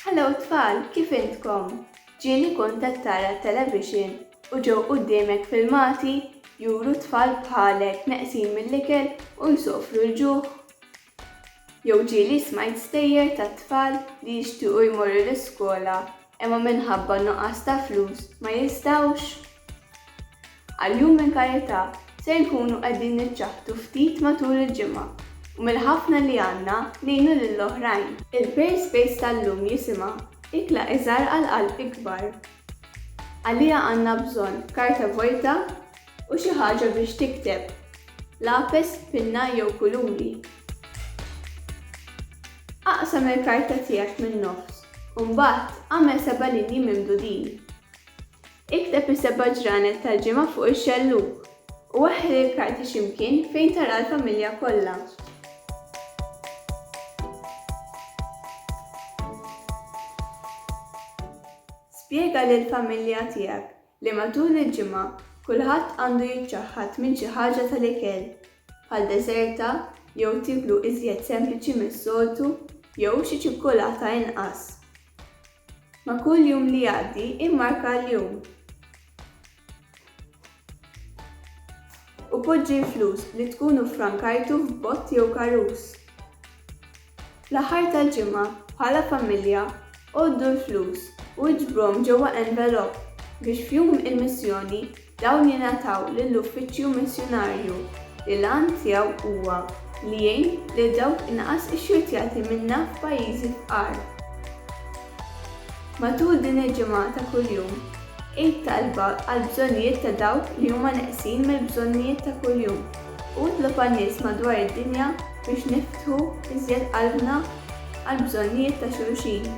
Hello tfal, kif intkom? Ġieli kont qed tara t-television u ġew quddiemek filmati juru tfal bħalek neqsin mill-ikel u jsofru l-ġuħ? Jew ġieli smajt stejjer tat-tfal li jixtiequ jmorru l-iskola imma minħabba n-nuqqas ta' flus ma jistgħux. Għal-Jum minn Karità se nkunu qegħdin niċċaħħdu ftit matul il-ġimgħa u mill-ħafna li għandna ngħinu lil oħrajn. Il-Prayer Space tal-lum jisimha Ikla Iżgħar għal Qalb Ikbar. Għaliha għandna bżonn karta vojta u xi ħaġa biex tikteb, lapes, pinna jew kuluri. Aqsam il-karta tiegħek min-nofs Imbagħad, agħmel seba' linji mimdudin. Ikteb is-seba' ġranet tal-ġimgħa fuq ix-xellug, u weħħel il-karti xi mkien fejn tara l-familja kollha. Spjega lill-familja tiegħek li matul il-ġimgħa kulħadd għandu jiċċaħħad minn xi ħaġa tal-ikel, bħal deżerta jew tiklu iżjed sempliċi mis-soltu jew xi ċikkulata inqas. Ma' kull jum li jgħaddi immarka l-jum u poġġi l-flus li tkunu ffrankajtu f'bott jew karus. Fl-aħħar tal-ġimgħa, bħala familja, għoddu l-flus u iġbruhom ġewwa envelop biex f'Jum il-Missjoni dawn jingħataw lill-Uffiċċju Missjunarju li l-għan tiegħu huwa li jgħin lil dawk inqas ixxurtjati minna f'pajjiżi fqar. Matul din il-ġimgħa ta' kuljum, għid talba għall-bżonnijiet ta' dawk li huma neqsin mill-bżonnijiet ta' kuljum u itlob għan-nies madwar id-dinja biex niftħu iżjed qalbna għall-bżonnijiet ta' xulxin.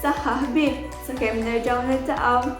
Saħħa ħbieb sakemm nerġgħu niltaqgħu!